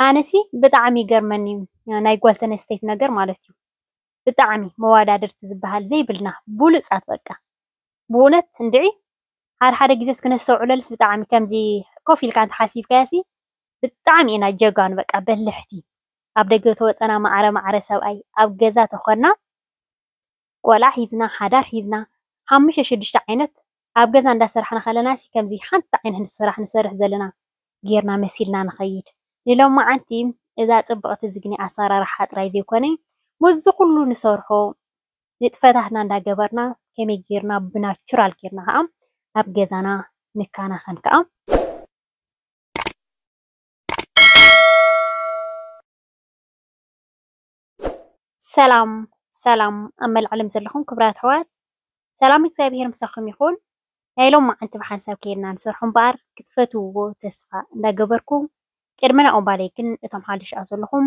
ኣነሲ ብጣዕሚ ይገርመኒ እዩ ናይ ጋል ተነስተይቲ ነገር ማለት እዩ ብጣዕሚ መዋዳድርቲ ዝባሃል ዘይብልና ቡሉፃት በቃ ብእውነት እንድዒ ሓደ ሓደ ግዜ ክነስተውዕለሉስ ብጣዕሚ ከምዚ ኮፍ ኢልካ እንተሓሲብካዮሲ ብጣዕሚ ኢና ጀጋኑ በቃ በልሕቲ ኣብ ደገ ተወፀና ማዕረ ማዕረ ሰብኣይ ኣብ ገዛ ተኾንና ቆልዓ ሒዝና ሓዳር ሒዝና ሓሙሽተ ሽዱሽተ ዓይነት ኣብ ገዛ እንዳሰራሕና ከለናሲ ከምዚ ሓንቲ ዓይነት ስራሕ ንሰርሕ ዘለና ጌርና መሲልና ንኸይድ ንሎማዓንቲ እዛ ጽብቕቲ ዝግኒ ኣሰራርሓ ጥራይ ዘይኮነ ምስዚ ኩሉ ንሰርሖ ንጥፈታትና እንዳገበርና ከመይ ጌርና ብናቹራል ጌርና ከኣ ኣብ ገዛና ንከናኸን ከኣ ሰላም ሰላም ኣብ መላእ ዓለም ዘለኹም ክብራት ኣሕዋት ሰላም እግዚኣብሔር ምሳኹም ይኹን። ናይ ሎም መዓንቲ ብሓንሳብ ኬድና ንሰርሖ እምበኣር ክትፈትውዎ ተስፋ እንዳገበርኩ ቅድሚ ናብኡ እምባለይ ግን እቶም ሓድሽ ኣዘለኹም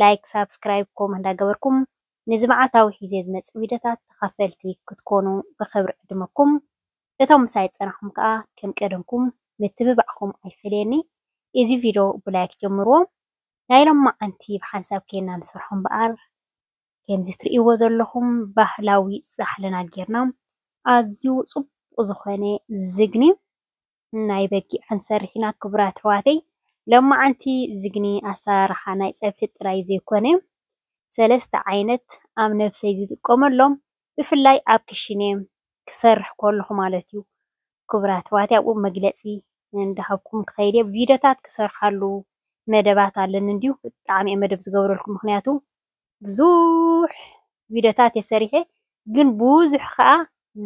ላይክ ሳብስክራይብ ኮም እንዳገበርኩም ንዚ መዓልታዊ ሒዘ ዝመጽእ ቪድዮታት ተኻፈልቲ ክትኮኑ ብኽብሪ ዕድመኩም እቶም ምሳይ ጸናኹም ከኣ ከም ቀደምኩም ምትብባዕኹም ኣይፈለየኒ እዚ ቪድዮ ብላይክ ጀምርዎ። ናይ ሎማዓንቲ ብሓንሳብ ኬና ንሰርሖ እምበኣር ከምዚ ትርእይዎ ዘለኹም ባህላዊ ፃሕልና ጌርና ኣዝዩ ፅቡቕ ዝኾነ ዝግኒ ናይ በጊዕ ክንሰርሕ ኢና ክቡራት ኣሕዋተይ። ሎማዓንቲ ዝግኒ ኣሰራርሓ ናይ ፀብሒ ጥራይ ዘይኮነ ሰለስተ ዓይነት ኣብ ነብሰይ ዝጥቀመሎም ብፍላይ ኣብ ክሽነ ክሰርሕ ከለኹ ማለት እዩ ክቡራት ኣሕዋት ኣብኡ መግለጺ እንዳሃብኩም ክኸይድ እየ ቪድዮታት ክሰርሓሉ መደባት ኣለኒ እንድዩ ብጣዕሚ እየ መደብ ዝገብረልኩም ምክንያቱ ብዙሕ ቪድዮታት እየ ሰሪሐ ግን ብዙሕ ከኣ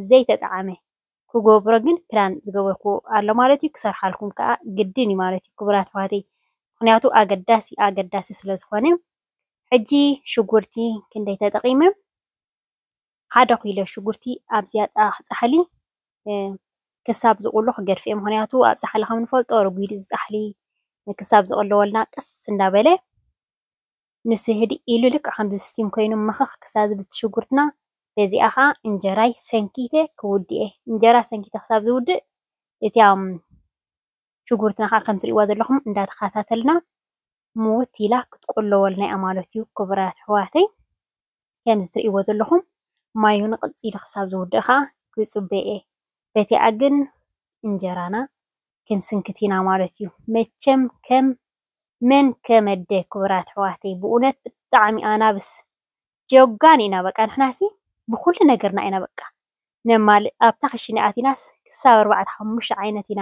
ዘይተጠዓመ ክገብሮ ግን ፕላን ዝገበርኩ ኣሎ ማለት እዩ ክሰርሓልኩም ከኣ ግድን እዩ ማለት እዩ ክቡራት ኣሕዋተይ ምክንያቱ ኣገዳሲ ኣገዳሲ ስለ ዝኾነ ሕጂ ሽጉርቲ ክንደይ ተጠቒመ ሓደ ኪሎ ሽጉርቲ ኣብዚኣ ኣብ ፃሕሊ ክሳብ ዝቑሎ ክገድፍኦ እየ። ምኽንያቱ ኣብ ፃሕሊ ከም እንፈልጦ ረጒድ እዩ ፃሕሊ ክሳብ ዝቑለወልና ቀስ እንዳበለ ንሱ ህድእ ኢሉ ልክዕ ከምዚ እስቲም ኮይኑ መኽኽ ክሳብ ዝብል እቲ ሽጉርትና በዚኣ ከዓ እንጀራይ ሰንኪተ ክውድእ እየ። እንጀራ ሰንኪተ ክሳብ ዝውድእ እቲ ኣብ ሽጉርትና ከኣ ከም ትሪእዋ ዘለኹም እንዳ ተኸታተልና ምውት ኢላ ክትቁለወልና ኢያ ማለት ኢዩ ክቡራት ኣሕዋተይ ከምዚ ትሪእዎ ዘለኹም ማዩ ንቅጽ ኢሉ ክሳብ ዝውድእ ከኣ ክጽበ ኢየ በቲኣ ግን እንጀራና ክንስንክት ኢና ማለት ኢዩ መቸም ከም መን ከመደ ክቡራት ኣሕዋተይ ብኡነት ብጣዕሚ ኣናብስ ጀጋኑ ኢና በቃ ንሕናሲ ብኹሉ ነገርና ኢና በቃ ነማልእ ኣብታ ክሽነ ኣቲናስ ክሳብ ኣርባዕተ ሓሙሽተ ዓይነት ኢና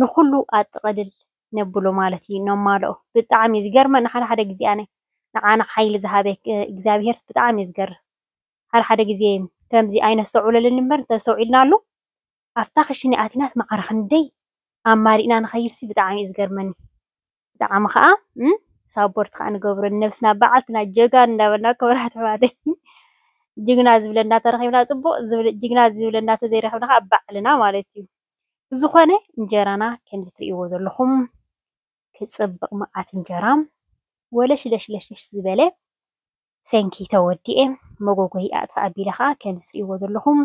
ንኩሉ ኣጥቅልል ነብሎ ማለት እዩ ነማልኦ ብጣዕሚ ዝገርመኒ ሓደ ሓደ ግዜ ኣነ ንዓና ሓይሊ ዝሃበ እግዚኣብሄርስ ብጣዕሚ ዝገርም ሓደ ሓደ ግዜ ከምዚ ኣይነስተውዕለሉን እምበር እንተዝተውዒልናሉ ኣብታ ክሽነ ኣቲናስ ማዕረ ክንደይ ኣማሊእና ንከይድሲ ብጣዕሚ እዩ ዝገርመኒ። ብጣዓሚ ካኣ ሳቦርት ካኣ ንገብሮ ንነብስና ባዓልትና ጀጋኑ እንዳበልና ክቡራት ኣሕዋተይ ጅግና ዝብለና ተረኺብና ጽቡቅ ጅግና ዝብለና ተዘይረኺብና ካኣ ባዕልና ማለት እዩ ብዝኾነ እንጀራና ከምዚ ትርእይዎ ዘለኹም ክጽብቅ ማዓት እንጀራ ወለሽለሽለሽለሽ ዝበለ ሰንኪ ተወዲኤ መጎጎይ ኣጥፍእ ኣቢለ ካኣ ከምዚ ትርእይዎ ዘለኹም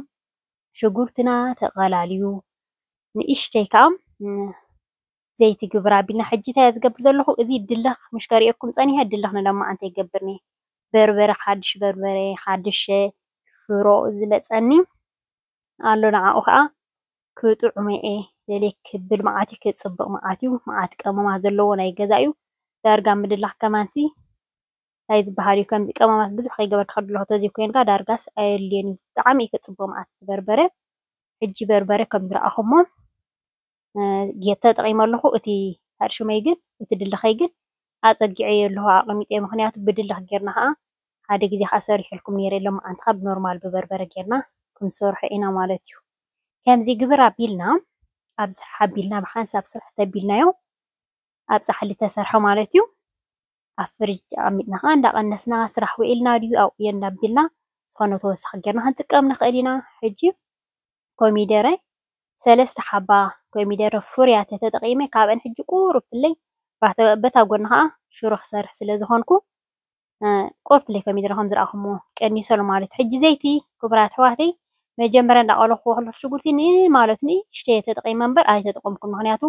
ሽጉርትና ተቀላልዩ ንእሽተይ ካኣ ዘይቲ ግብራ ቢልና ሕጂ ታያ ዝገብር ዘለኩ እዚ ድልክ ምሽ ከሪኤኩም ጸኒሐ ድልክ ንለማዓንቲ ይገብር ኔ በርበረ ሓድሽ በርበረ ሓድሸ ሽሮ ዝመጸኒ ኣሎ ንዓኡ ከኣ ክጥዑሞየ ደልየ ክብል መዓት ዩ ክጽብቅ መዓት ዩ መዓት ቀመማት ዘለዎ ናይ ገዛ ዩ ዳርጋ ምድላክ ከማንሲ ታይ ዝብሃል ዩ ከምዚ ቀመማት ብዙሕ ከይገበርካ ክትድልኮ ተዘይ ኮንካ ዳርጋስ ኣየድልዮን ዩ ብጣዓሚ ዩ ክጽብቅ መዓት በርበረ ሕጂ በርበረ ከም ዝረኣኩሞ ጌር ተጠቒመ ኣለኹ። እቲ ኣርሽመይ ግን እቲ ድለኸይ ግን ኣጸጊዐዮ ኣለኹ ኣቐሚጠዮ። ምኽንያቱ ብድለኽ ጌርና ኸኣ ሓደ ግዜ ኸኣ ሰሪሐልኩም ነይረ ሎምዓንቲ ኸኣ ብኖርማል ብበርበረ ጌርና ክንሰርሖ ኢና ማለት እዩ። ከምዚ ግብር ኣቢልና ኣብዝሕ ኣቢልና ብሓንሳብ ስርሕ ተቢልናዮ ኣብ ጻሕሊ ተሰርሐ ማለት እዩ። ኣብ ፍርጅ ኣቐሚጥና ከኣ እንዳቐነስና ስራሕ ውዒልና ድዩ ኣብቕዮ እንዳቢልና ዝኾነ ተወሳኺ ጌርና ክንጥቀም ንኽእል ኢና። ሕጂ ኮሚደረ ሰለስተ ሓባ ኮሚደረ ፍሩያት ተተጠቒመ ካብኣን ሕጂ ቁሩብ ፍለይ በታ ጎኒ ከኣ ሽሮ ክሰርሕ ስለዝኾንኩ ቁሩብ ፍለይ ኮሚደረ ከምዝረኣኹሞ ቀኒሰ ኣሎ ማለት ሕጂ ዘይቲ ክቡራት ኣሕዋተይ መጀመርያ እንዳቐለኹዎ ከለኹ ሽጉርቲ ንማለቱ ንእሽተይ ተጠቒመ እምበር ኣይተጠቐምኩን ምኽንያቱ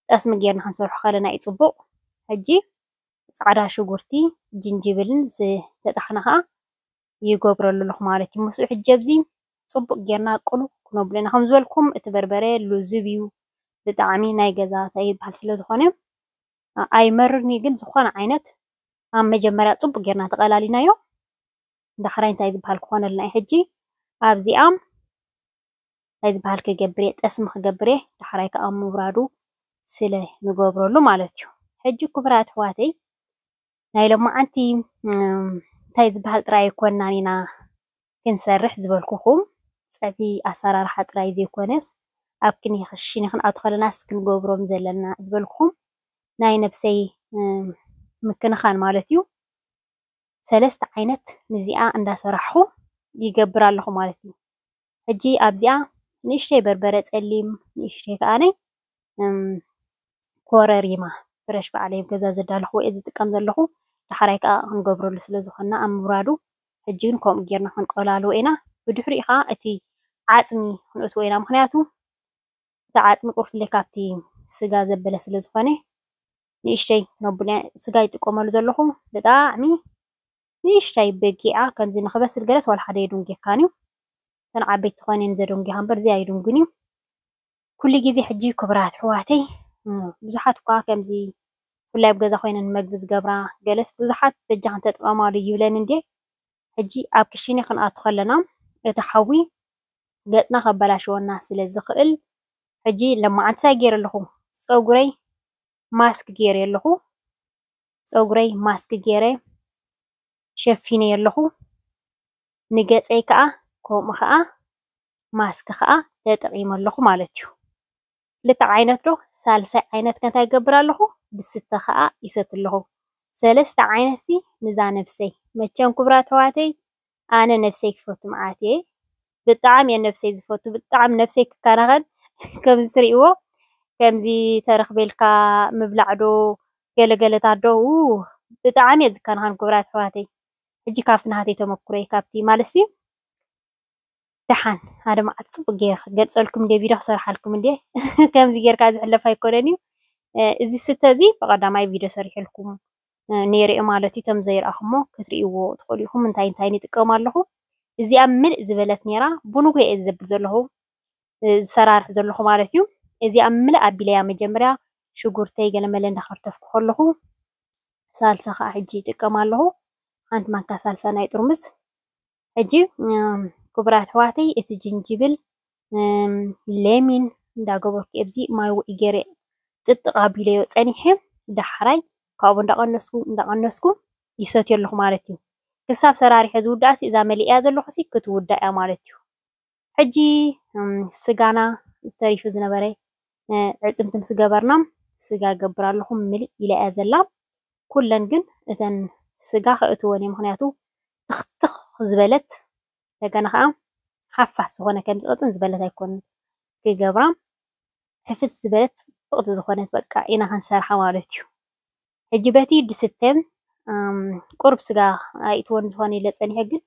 ጠስሚ ጌርና ክንሰርሖ ከለና እዩ ፅቡቕ። ሕጂ ፃዕዳ ሽጉርቲ ጅንጅብልን ዝተጠሓነ ኸዓ ይገብረሉ ኣለኹ ማለት እዩ። ምስኡ ሕጂ ኣብዚ ፅቡቕ ጌርና ቅሉ ክነብሎ ኢና። ከም ዝበልኩም እቲ በርበረ ልዙብ እዩ ብጣዕሚ ናይ ገዛ ታይ ይብሃል ስለ ዝኾነ ኣይመርርን እዩ። ግን ዝኾነ ዓይነት ኣብ መጀመርያ ፅቡቕ ጌርና ተቐላሊናዮ ዳሕራይ እንታይ ዝብሃል ክኾነልና እዩ። ሕጂ ኣብዚኣ ታይ ዝባሃል ክገብር እየ ጠስሚ ክገብር እየ ዳሕራይ ካኣ ኣብ ምውራዱ ስለ ንገብረሉ ማለት እዩ ሕጂ ኩቡራት ኣሕዋተይ ናይ ሎማዓንቲ ታይ ዝባሃል ጥራይ ኣይኮናን ኢና ክንሰርሕ ዝበልኩኩም ፀብሒ ኣሳራርሓ ጥራይ ዘይኮነስ ኣብ ክሽነ ክንኣቱ ከለናስ ክንገብሮም ዘለና ዝበልኩኩም ናይ ነብሰይ ምክንኻን ማለት እዩ ሰለስተ ዓይነት ንዚኣ እንዳሰራሕኹ ይገብር ኣለኹ ማለት እዩ። ሕጂ ኣብዚኣ ንእሽተይ በርበረ ጸሊም ንእሽተይ ከኣነ ኮረሪማ ፍረሽ በዓለይ ኣብ ገዛ ዘዳለኹዎ እየ ዝጥቀም ዘለኹ። ዳሕራይ ከኣ ክንገብረሉ ስለ ዝኾንና ኣብ ምብራዱ ሕጂ ግን ከምኡ ጌርና ክንቆላልዎ ኢና። ብድሕሪኡ ከኣ እቲ ዓጽሚ ክንእትዎ ኢና ምኽንያቱ እቲ ዓፅሚ ቁርፍደ ካብቲ ስጋ ዘበለ ስለ ዝኾነ ንእሽተይ ነቡለ ስጋ ይጥቀመሉ ዘለኹ ብጣዕሚ ንእሽተይ በጊዓ ከምዚ ንክበስል ገለስ ዋላ ሓደ የዱንጌካን እዩ እተን ዓበይቲ ተኾይነ እየን ዘደንጊኻ እምበር እዚ ኣይዱንግን እዩ ኩሉ ግዜ ሕጂ ክብራት ኣሕዋተይ ብዙሓት እኳ ከምዚ ብፍላይ ኣብ ገዛ ኮይነን መግቢ ዝገብራ ገለስ ብዙሓት በጃኽን ተጠቐማሉ ይብለኒ እንድየ ሕጂ ኣብ ክሽነ ክንኣቱ ከለና እቲ ሓዊ ገጽና ከበላሽወና ስለ ዝኽእል ሕጂ ለማዓንቲ ታይ ጌረ ኣለኹ ጸጉረይ ማስክ ጌሬ ኣለኹ ጸጉረይ ማስክ ጌረ ሸፊነዮ ኣለኹ ንገጸይ ከኣ ከምኡ ከኣ ማስክ ከኣ ተጠቂመ ኣለኹ ማለት እዩ። ክልተ ዓይነት ዶ ሳልሳይ ዓይነት ከ እንታይ ይገብር ኣለኹ ብስተ ከኣ ይሰቲ ኣለኹ ሰለስተ ዓይነትሲ ንዛ ነብሰይ መቸም ኩቡራት ኣሕዋተይ ኣነ ነብሰይ ክፈቱ መዓት እየ ብጣዕሚ እየ ነብሰይ ዝፈቱ ብጣዕሚ ነብሰይ ክከናኸን ከምዚ ትሪእዎ ከምዚ ተረኽቤልካ ምብላዕ ዶ ገለ ገለታት ዶ ኡህ ብጣዕሚ እየ ዝከናኸን ኩቡራት ኣሕዋተይ ሕጂ ካብቲ ናተይ ተመኩሮ እየ ካብቲ ማለትሲ ደሓን ኣድማዓት ጽቡቅ ገይረ ክገልጸልኩም እንድየ ቪድዮ ክሰርሓልኩም እንድየ ከምዚ ጌርካ ዝሕለፍ ኣይኮነን እዩ እዚ ስተ እዚ ብቀዳማይ ቪድዮ ሰሪሐልኩም ነይረ እዩ ማለት እዩ እቶም ዘይረኣኹሞ ክትርእይዎ ትኽእሉ ኢኹም እንታይ እንታይ ይጥቀም ኣለኹ እዚኣ ምልእ ዝበለት ነይራ ብንጉ እየ ዘብል ዘለኹ ዝሰራርሕ ዘለኹ ማለት እዩ እዚኣ ምልእ ኣቢለያ መጀመርያ ሽጉርተይ ገለመለ እንዳኸርተፍኩ ከለኹ ሳልሳ ከዓ ሕጂ ይጥቀም ኣለኹ ሓንቲ ማንካ ሳልሳ ናይ ጥርሙዝ ሕጂ ክቡራት ኣሕዋተይ እቲ ጅንጅብል ሌሚን እንዳገበርኩ ኣብዚ ማይ ውዑይ ገይረ ጥጥቕ ኣቢለዮ ፀኒሐ ዳሕራይ ካብኡ እንዳቐነስኩ እንዳቐነስኩ ይሰትዮ ኣለኹ ማለት እዩ። ክሳብ ሰራሪሐ ዝውዳእሲ እዛ መሊኤያ ዘለኹሲ ክትውዳእ እያ ማለት እዩ። ሕጂ ስጋና ዝተሪፉ ዝነበረ ኣዕፅምቲ ምስ ገበርና ስጋ ይገብር ኣለኹ ምልእ ኢላ እያ ዘላ። ኩለን ግን እተን ስጋ ከእትወን እየ ምክንያቱ ትኽትኽ ዝበለት እንደገና ከዓ ሓፋስ ዝኾነ ከምዚ ቅጥን ዝበለት ኣይኮንን ክገብራ ሕፍስ ዝበለት ፅብቕቲ ዝኾነት በቃ ኢና ክንሰርሓ ማለት እዩ። ሕጂ በቲ ድስተ ቁሩብ ስጋ ኣይእትዎን ዝኾነ ኢለ ፀኒሐ ግን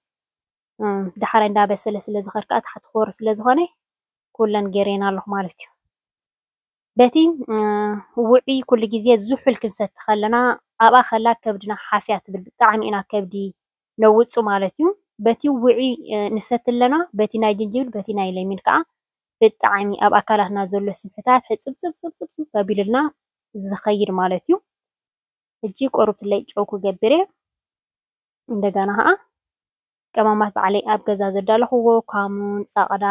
ዳሕራይ እንዳበሰለ ስለ ዝኸድ ከኣ ታሕቲ ክወርድ ስለ ዝኾነ ኩለን ገይረየን ኣለኹ ማለት እዩ። በቲ ውዑይ ኩሉ ግዜ ዝሑል ክንሰቲ ከለና ኣብኣ ከላ ከብድና ሓፍያ ትብል ብጣዕሚ ኢና ከብዲ ነውጹ ማለት እዩ። በቲ ውዑይ ንሰቲ ኣለና በቲ ናይ ጅንጅብል በቲ ናይ ለሚን ከኣ ብጣዕሚ ኣብ ኣካላትና ዘሎ ስብሕታት ሕጽብጽብጽብጽብ ኣቢሉልና ዝኸይድ ማለት እዩ። ሕጂ ቆርብትለይ ጨው ክገብር እየ። እንደገና ኸዓ ቀማማት ባዕለይ ኣብ ገዛ ዘዳለኹዎ ካሙን፣ ጸቕዳ፣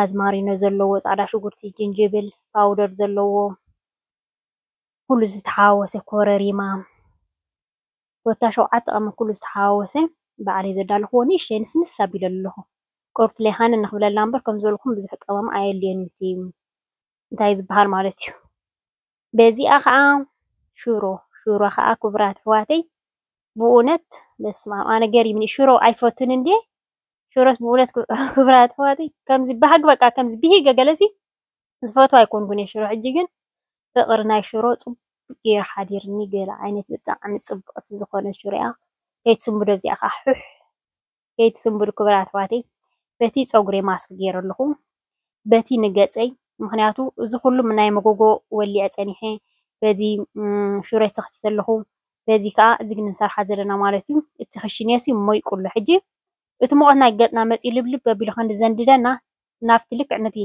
ኣዝማሪኖ ዘለዎ ጻዕዳ ሽጉርቲ፣ ጅንጅብል፣ ፓውደር ዘለዎ ኩሉ ዝተሓዋወሰ ኮረሪማ ኮታ ሸውዓተ ቀመም ኩሉ ዝተሓዋወሰ ባዕለይ ዘዳለኹዎ ንእሽተይ ንስንስ ኣቢለ ኣለኹ። ቅሩብትለይ ሃነን ንኽብለላ እምበር ከም ዝበልኩም ብዙሕ ቀመም ኣየድልዮን እዩ እቲ እንታይ እዩ ዝበሃል ማለት እዩ። በዚኣ ከኣ ሽሮ ሽሮ ከኣ ክቡራት ኣሕዋተይ ብእውነት በስማም ኣነ ገሪምኒ ሽሮ ኣይፈቱን እንዴ ሽሮስ ብእውነት ክቡራት ኣሕዋተይ ከምዚ ባህግ በቃ ከምዚ ብሂገ ገለሲ ዝፈትዋ ኣይኮንኩን ሽሮ ሕጂ ግን ፍቅሪ ናይ ሽሮ ጽቡቅ ገይሩ ሓዲርኒ ገለ ዓይነት ብጣዕሚ ጽብቅቲ ዝኾነት ሽሮ እያ ከይትስምብዶ እዚኣ ከኣ ሑሕ ከይትስንብዱ ክቡራት ኣሕዋተይ በቲ ፀጉሪ ማስክ ገይረ ኣለኩ በቲ ንገፀይ ምክንያቱ እዚ ኩሉ ናይ መጎጎ ወሊዐ ፀኒሐ በዚ ሹረይ ሰክቲተ ኣለኩ በዚ ከዓ እዚ ንሰርሓ ዘለና ማለት እዩ እቲ ክሽነ ሲ ሞይቁ ኣሎ ሕጂ እቲ ሙቀት ናይ ገፅና መፂኡ ልብልብ ኣቢሉ ከም ዘንድደና ናብቲ ልክዕ ነቲ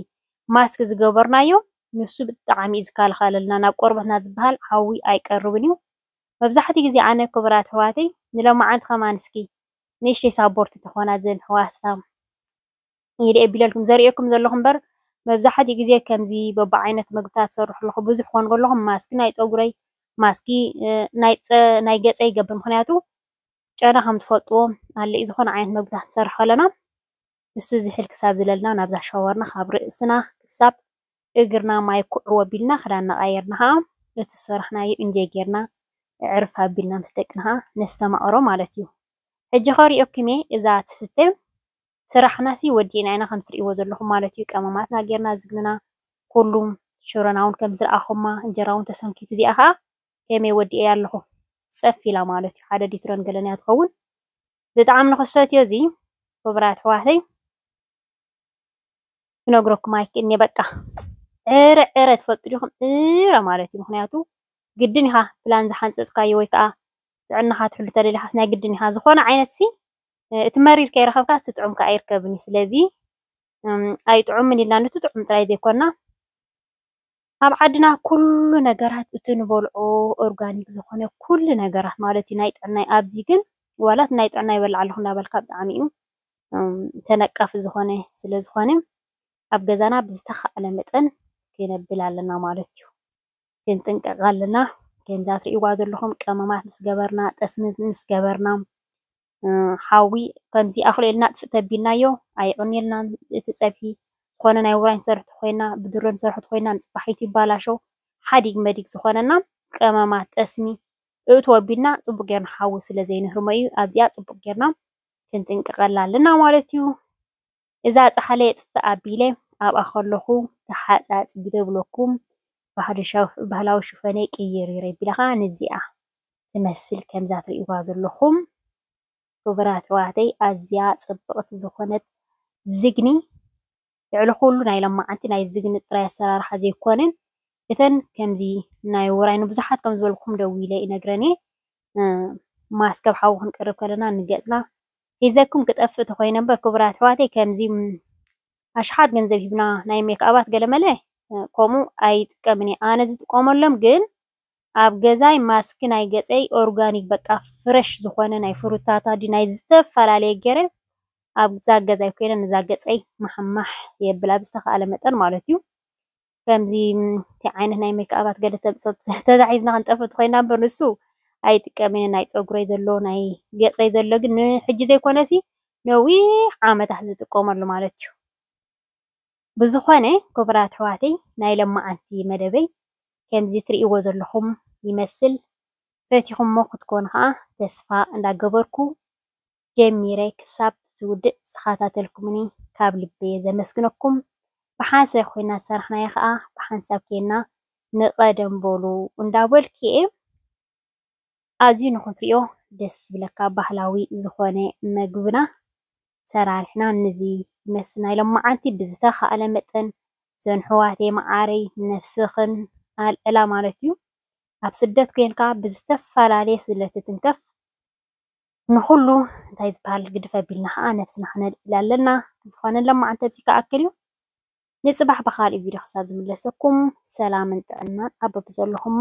ማስክ ዝገበርናዮ ንሱ ብጣዕሚ እዩ ዝከላከለልና ናብ ቆርበትና ዝብሃል ሓዊ ኣይቀርብን እዩ መብዛሕትኡ ግዜ ኣነ ክቡራት ኣሕዋተይ ንሎማዓንቲ ከማን እስኪ ንእሽተይ ሳቦርቲ ተኾና ዘን ህዋሳ ኢደ የቢለልኩም ዘርእየኩም ዘለኹ እምበር መብዛሕትኡ ግዜ ከምዚ በብዓይነት መግብታት ትሰርሑ ኣለኹ ብዙሕ ኮን ከለኹ ማስኪ ናይ ጸጉረይ ማስኪ ናይ ገጸይ ይገብር ምክንያቱ ጨና ከም ትፈልጥዎ ኣለዩ ዝኾነ ዓይነት መግብታት ንሰርሕ ከለና ንሱ ዝሕል ክሳብ ዝለልና ናብዛ ሻወርና ካብ ርእስና ክሳብ እግርና ማይ ኩዕው ኣቢልና ክዳንና ቀይርና ከኣ ነቲ ዝሰራሕናዮ እንጆይ ጌርና እዕርፍ ኣቢልና ምስ ደቅና ከኣ ነስተማቕሮ ማለት እዩ ሕጂ ከሪኦኪም እየ እዛ ትስተ ስራሕናሲ ወዲእና ኢና ከምቲ ትሪእዎ ዘለኹም ማለት እዩ ቀመማትና ጌርና ዝግንና ኩሉ ሽሮና ውን ከምዚ ዝረኣኹማ እንጀራ ውን ተሰንኪቱ እዚኣ ከኣ ከመይ ወዲኤያ ኣለኹ ጸፍ ኢላ ማለት እዩ ሓደ ሊትሮን ገለን እያ ትኸውን ብጣዕሚ ንክሰትዮ እዚ ክቡራት ኣሕዋተይ ክነግረኩም ኣይክእልን እየ በቃ ዕረ ዕረ ትፈልጡ ዲኹም ዕረ ማለት እዩ ምክንያቱ ግድን ኢኻ ፕላን ዝሓንፀፅካዮ ወይ ከዓ ጥዕናኻ ትሕሉ ተደሊኻስ ናይ ግድን ኢኻ ዝኾነ ዓይነት ሲ እቲ መሪር ከይረኸብካ እቲ ጥዑም ከዓ ኣይርከብን እዩ ስለዚ ኣይጥዑምን ኢልና ነቲ ጥዑም ጥራይ ዘይኮና ኣብ ዓድና ኩሉ ነገራት እቲ ንበልዖ ኦርጋኒክ ዝኾነ ኩሉ ነገራት ማለት እዩ ናይ ጥዕና እዩ። ኣብዚ ግን ዋላ እቲ ናይ ጥዕና ይበልዕ ኣለኹ እናበልካ ብጣዕሚ እዩ ተነቃፊ ዝኾነ ስለ ዝኾነ ኣብ ገዛና ብዝተኻእለ መጠን ክነብል ኣለና ማለት እዩ። ክንጥንቀቕ ኣለና ከምዛ ትሪእዋ ዘለኹም ቀመማት ምስ ገበርና ጠስሚ ምስ ገበርና ሓዊ ከምዚ ኣክሎ ኢልና ጥፍእ ተቢልናዮ ኣይዑንየልናን እቲ ፀብሒ ዝኮነ ናይ ውራይ ንሰርሕ ተኮይና ብድሮ ንሰርሖ ተኮይና ንፅባሒቱ ይባላሸው ሓዲግ መዲግ ዝኮነና ቀመማት ጠስሚ እእትዎ ኣቢልና ፅቡቅ ገይርና ሓዊ ስለ ዘይንህርሞ እዩ ኣብዚኣ ፅቡቅ ገይርና ክንጥንቀቀላ ኣለና ማለት እዩ። እዛ ጻሕሊ የጥፍእ ኣቢለ ኣብኣ ከለኹ ተሓጻጺደ ብለኩም ባህላዊ ሽፈነይ ቀይሪረ ቢለኻ ንዚኣ ትመስል ከምዛ ትሪእዋ ዘለኹም ክቡራት ኣሕዋተይ ኣዝያ ጽብቕቲ ዝኾነት ዝግኒ ልዕሊ ኩሉ ናይ ሎማዓንቲ ናይ ዝግኒ ጥራይ ኣሰራርሓ ዘይኮነ እተን ከምዚ ናይ ውራይ ንብዙሓት ከም ዝበልኩም ደዊለ ይነግረን እየ ማስክ ኣብ ሓዊ ክንቅርብ ከለና ንገጽና ሒዘኩም ክጠፍእ ተኾይነ እምበር ክቡራት ኣሕዋተይ ከምዚ ኣሽሓት ገንዘብ ሂብና ናይ ሜክኣባት ገለመለ ከምኡ ኣይጥቀምን እየ ኣነ ዝጥቀመሎም ግን ኣብ ገዛይ ማስክ ናይ ገጸይ ኦርጋኒክ በቃ ፍረሽ ዝኾነ ናይ ፍሩታታ ድዩ ናይ ዝተፈላለየ ገይረ ኣብዛ ገዛይ ኮይነ ነዛ ገጸይ ማሕማሕ የብላ ብዝተኻእለ መጠን ማለት እዩ ከምዚ ከምዚ ዓይነት ናይ ሜክኣባት ገለ ተምጽኦ ተታሒዝና ክንጠፍእ ተኾይና እምበር ንሱ ኣይጥቀምን እየ ናይ ጸጉረይ ዘሎ ናይ ገጸይ ዘሎ ግን ንሕጂ ዘይኮነሲ ነዊሕ ዓመታት ዝጥቀመሉ ማለት እዩ ብዝኾነ ክቡራት ኣሕዋተይ ናይ ለማዓንቲ መደበይ ከምዚ ትርእይዎ ዘለኹም ይመስል ፈቲኹሞ ክትኮኑ ከኣ ተስፋ እንዳገበርኩ ጀሚረ ክሳብ ዝውድእ ዝተኸታተልኩምኒ ካብ ልቢ'የ ዘመስግነኩም። ብሓንሳብ ኮይና ዝሰራሕናያ ከኣ ብሓንሳብ ኴንና ንቐደም በሉ እንዳበልኩ'የ። ኣዝዩ ንኽትሪኦ ደስ ዝብለካ ባህላዊ ዝኾነ መግብና ሰራሪሕና ንዚ ይመስል ናይ ሎምዓንቲ። ብዝተኻእለ መጠን ዘንሕዋተይ መዓረይ ንነብስኽን ኣልዕላ ማለት'ዩ። ኣብ ስደት ኮይንካ ብዝተፈላለየ ስለትትንከፍ ንኹሉ እንታይ ዝበሃል ግድፍ ኣቢልና ከኣ ነብስና ክነልዕል ኣለና ብዝኾነ ሎምዓንቲ ኣብዚ ክኣክል እዩ ንጽባሕ ብኻልእ ቪድዮ ክሳብ ዝምለሰኩም ሰላምን ጥዕናን ኣብ በብዘለኹሞ።